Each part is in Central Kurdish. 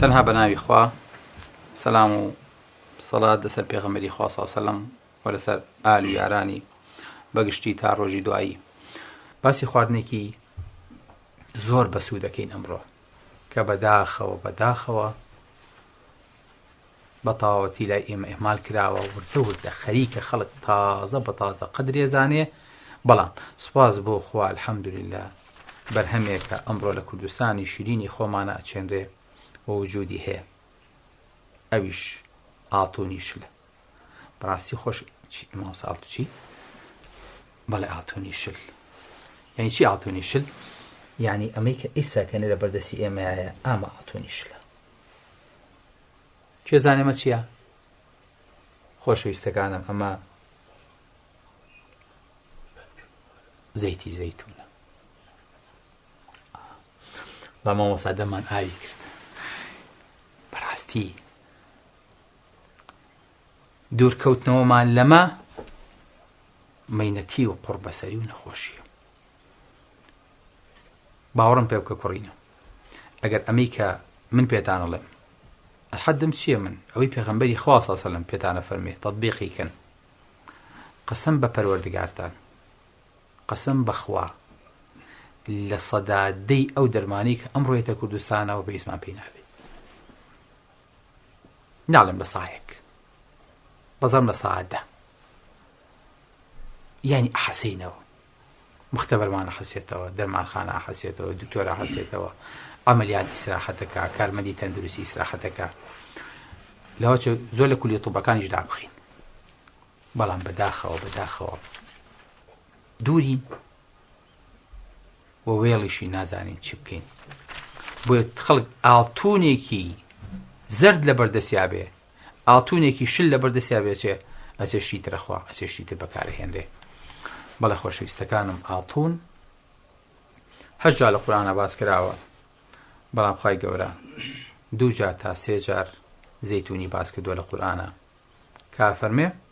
تەنها بە ناوی خوا سەلام و سەڵات لەسەر پێغەمبەری خوا صلی الله علیه و سلم و لەسەر ئال و یارانی بەگشتی تا ڕۆژی دوایی باسی خواردنێکی زۆر بەسوو دەکەین ئەمڕۆ کە بەداخەوە بەداخەوە بەتەواوەتی لای ئێمە ئیهمال کراوە وردە وردە خەریکە خەڵک تازە بە تازە قەدری ئەزانێ بەڵام سوپاس بۆ خوا الحەمدوللە بەرهەمێکە ئەمڕۆ لە کوردستانی شیرینی خۆمانە ئەچێنرێ و وجودی هەیە ئەویش ئاڵتونی شلە بەڕاستی خۆش ماوساڵتوچی بەڵێ ئاڵتونی شل یعنی چی ئاڵتونی شل یعنی ئەمەی کە ئیسا کەێ لە بەردەسی ئێمەیە ئامە ئاڵتونی شلە کێ زانێ مە چیە؟ خۆشەویستەکانم ئەمە زەیتی زەیتونە بە مامۆسا دەمان ئاوی کرد بەڕاستی دوورکەوتنەوەمان لەمە مینەتی و قڕبەسەری و نەخۆشیە باوەڕم پێ بکە کوڕینە ئەگەر ئەمەی کە من پێتان ئەڵێم حەدم چییە من ئەوەی پێغەمبەری خوا صلی الله علیه و سلم پێتانە فەرمی تطبیقی کەن قسم بە پەروەردگارتان قسم بەخوا لە سەدا دەی ئەو دەرمانی کە ئەم ڕێتە کوردستانەوە بە ئیسمان پێی نابێ ناڵێم لە ساەک بەزەم لە ساعدە یعنی ئەحەسینەوە مختبرمان ئەحەسێتەوە، دەرمانخانە ئەحەسێتەوە، دکتۆر ئەحەسێتەوە، عەمەلیات ئیسراحەت ئەکا، کارمەندی تەندروستی ئیسراحەت ئەکا. لەوەچۆ زۆر لە کولیە طوبەکانیش دابخەین. بەڵام بەداخەوە بەداخەوە دوورین و وێڵیشی نازانین چی بکەین. بۆیە خەڵک ئاڵتونێکی زرد لە بەردەسیا بێ ئاڵتونێکی شل لەبەر دەستیا بێ ئەچێ ئەچێ شتی تر ئەخوا ئەچێ شتی تر بەکار ئەهێنرێ بەڵێ خۆشەویستەکانم ئاڵتون هەشت جار لە قورئانا باس کراوە بەڵام خوای گەورە دوو جار تا سێ جار زەیتونی باس کردووە لە قورئانا کا فەرمێ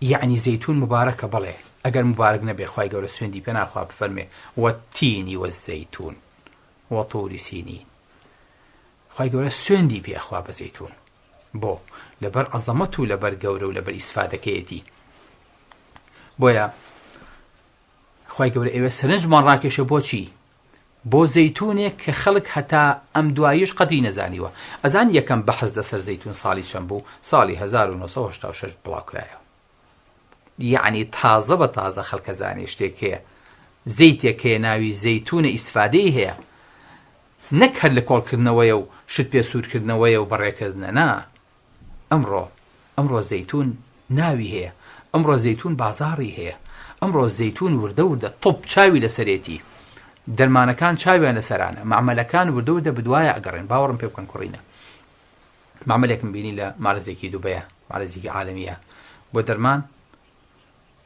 یەعنی زەیتون موبارەکە بەڵێ ئەگەر موبارەک نەبێ خوای گەورە سوێندی پێ ناخوا بفەرمێ وەتینی وەزەیتون وەطوری سینین خوای گەورە سوێندی پێ ئەخوا بە زەیتون بۆ لەبەر عەزەمەت و لەبەر گەورە و لەبەر ئیسفادەکەیەتی بۆیە خوای گەورە ئێوە سەرنجمان ڕاکێشە بۆچی بۆ زەیتونێک کە خەڵک هەتا ئەم دواییەش قەدری نەزانیوە. ئەزانی یەکەم بەحس لەسەر زەیتون ساڵی چەند بوو؟ ساڵی هەزار و نۆ سەد و هەشتا و شەش بڵاوکرایەوە. یەعنی تازە بە تازە خەڵک ئەزانێ شتێک هەیە، زەیتێک هەیە ناوی زەیتونە ئیستفادەی هەیە. نەک هەر لە کۆڵکردنەوەیە و شت پێ سوورکردنەوەیە و بەڕێکردنە نا، ئەمڕۆ ئەمڕۆ زەیتون ناوی هەیە ئەمڕۆ زەیتون بازاڕی هەیە ئەمڕۆ زەیتون وردە وردە طب چاوی لەسەرێتی دەرمانەکان چاویان لەسەرانە مەعمەلەکان وردە وردە بدوایە ئەگەڕێن باوەڕم پێ بکەن کوڕینە مەعمەلێکم بینی لە مارزێکی دوبەیە مارزێکی عالمیە بۆ دەرمان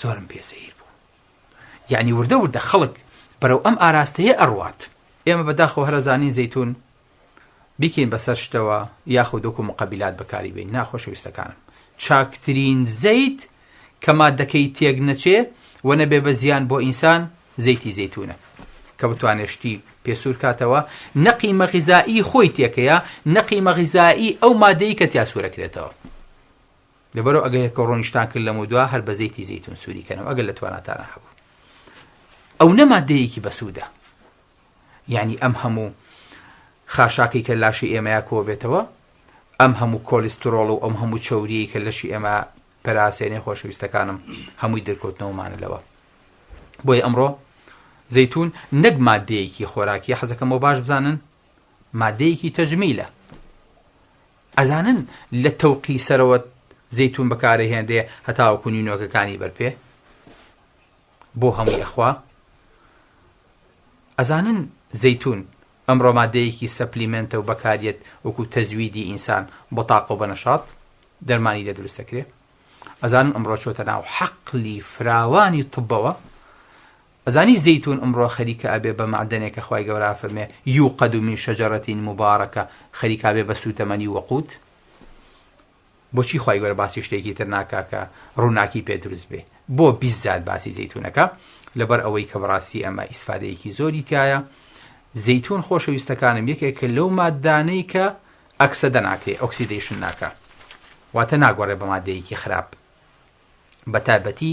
زۆرم پێ سەیر بوو یعنی وردە وردە خەڵک بەرەو ئەم ئاراستەیە ئەڕوات ئێمە بەداخەوە هەرەزانین زەتون بیکەین بەسەر شتەوە یاخۆ دۆکو مقابلات بەکاری بین ناخۆشەویستەکانم چاکترین زەیت کە مادەکەی تێک نەچێ و نەبێ بە زیان بۆ ئینسان زەیتی زەتونە کە بتوانێشتی پێسوور کاتەوە نەقی مەغیزایی خۆی تێکەیە نەقی مەغیزایی ئەو مادەی کە تیاسوورەکرێتەوە لەبەرئ ئەگە یەکەو ڕۆنیشتان کرد لەمەودوا هەر بە زەیتی زەیتون سوری کەنەوە ئەگەر لە تواناتانە هەبوو ئەونە مادەیەکی بەسوودە یعنی ئەم هەموو خاشاکی کە لاشی ئێمەیا کۆ بێتەوە ئەم هەموو کۆلیسترۆڵ و ئەم هەموو چەوریی کە لەشی ئێمە پەراسێنێ خۆشەویستەکانم هەمووی دەرکەوتنەوەمانە لەوە بۆیە ئەمڕۆ زەتون نەک مادەیەکی خۆراکی حەزەکەمەوە باش بزانن مادەیەکی تەجمیلە ئەزانن لە تەوقی سەرەوە زەیتون بەکارەهێنرێ هەتاوەکو نینۆکەکانی بەرپێ بۆ هەمووی ئەخوا؟ ئەزانن زەیتون ئەمڕۆ مادەیەکی سەپلیمێنتە و بەکاریەت وەکو تەزویدی ئینسان بۆ تاقە و بەنەشاط دەرمانی لێ دروست دەکرێ؟ ئەزانن ئەمڕۆ چۆتە ناو حەقلی فراوانی طبەوە ئەزانی زەیتون ئمڕۆ خەریکە ئەبێ بە مەعدەنێ کە خوای گەورە ئەفەرمێ، یوقد من شجرە مبارکە، خەریکە ئەبێ بە سوتەمەنی وەقوت؟ بۆچی خوای گەورە باسی شتێکی تر ناکا کە ڕوناکی پێ دروست بێ؟ بۆ بیززات باسی زەیتون ئەکا؟ لەبەر ئەوەی کە بەڕاستی ئەمە ئیسفادەیەکی زۆری تیایە. زەیتون خۆشەویستەکانم یەکێکە لەو ماددانەی کە ئەکسەدە ناکرێ، ئۆکسیدەیشن ناکا. واتە ناگۆڕێ بە ماددەیەکی خراپ. بە تایبەتی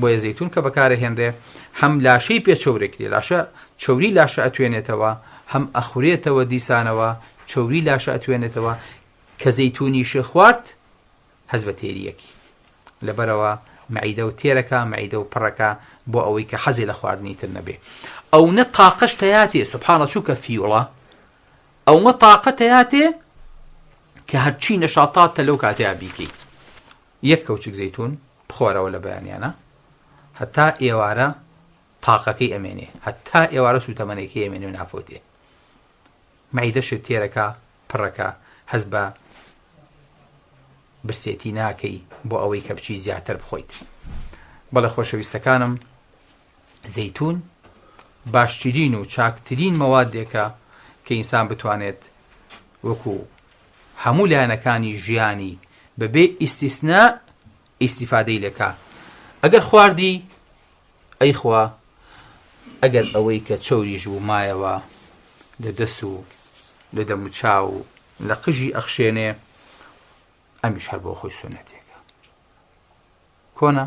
بۆیە زەیتون کە بەکارئەهێنرێ هەم لاشەی پێ چەورەکرێ لاشە چەوری لاشە ئەتوێنێتەوە هەم ئەخورێتەوە دیسانەوە چەوری لاشە ئەتوێنێتەوە کە زەیتونیش خوارد هەست بە تێریەکی لەبەرەوە معیدە و تێرەکە معیدە و پڕەکە بۆ ئەوەی کە حەزی لە خواردنی تر نەبێ ئەو نە تاقەش تەیاتێ سبحانە چووکە فیوڵە ئەومە تاقە تەیاتێ کە هەرچی نەشاتاتە لەو کاتەیە بیکەیت یەک کەوچک زەیتون بخۆرەوە لە بەیانیانە هەتا ئێوارە تاقەکەی ئەمێنێ هەتا ئێوارە سوتەمەنێکی ئەمێنێ و نافۆتێ مەعیدەشت تێرەکە پڕەکە هەز بە برسێتی ناکەی بۆ ئەوەی کە بچی زیاتر بخۆیت بەڵێ خۆشەویستەکانم زەیتوون باشترین و چاکترین مەوادێکە کە ئینسان بتوانێت وەکو هەموو لایەنەکانی ژیانی بەبێ ئیسیسنا ئیسیفادەی لەکە ئەگەر خواردی ئەیخوا ئەگەر ئەوەی کە چوریش بوو مایەوە لە دەس و لە دەموچا و لە قژی ئەخشێنێ ئەمیش هەر بۆ خۆی سونەتێکە کۆنا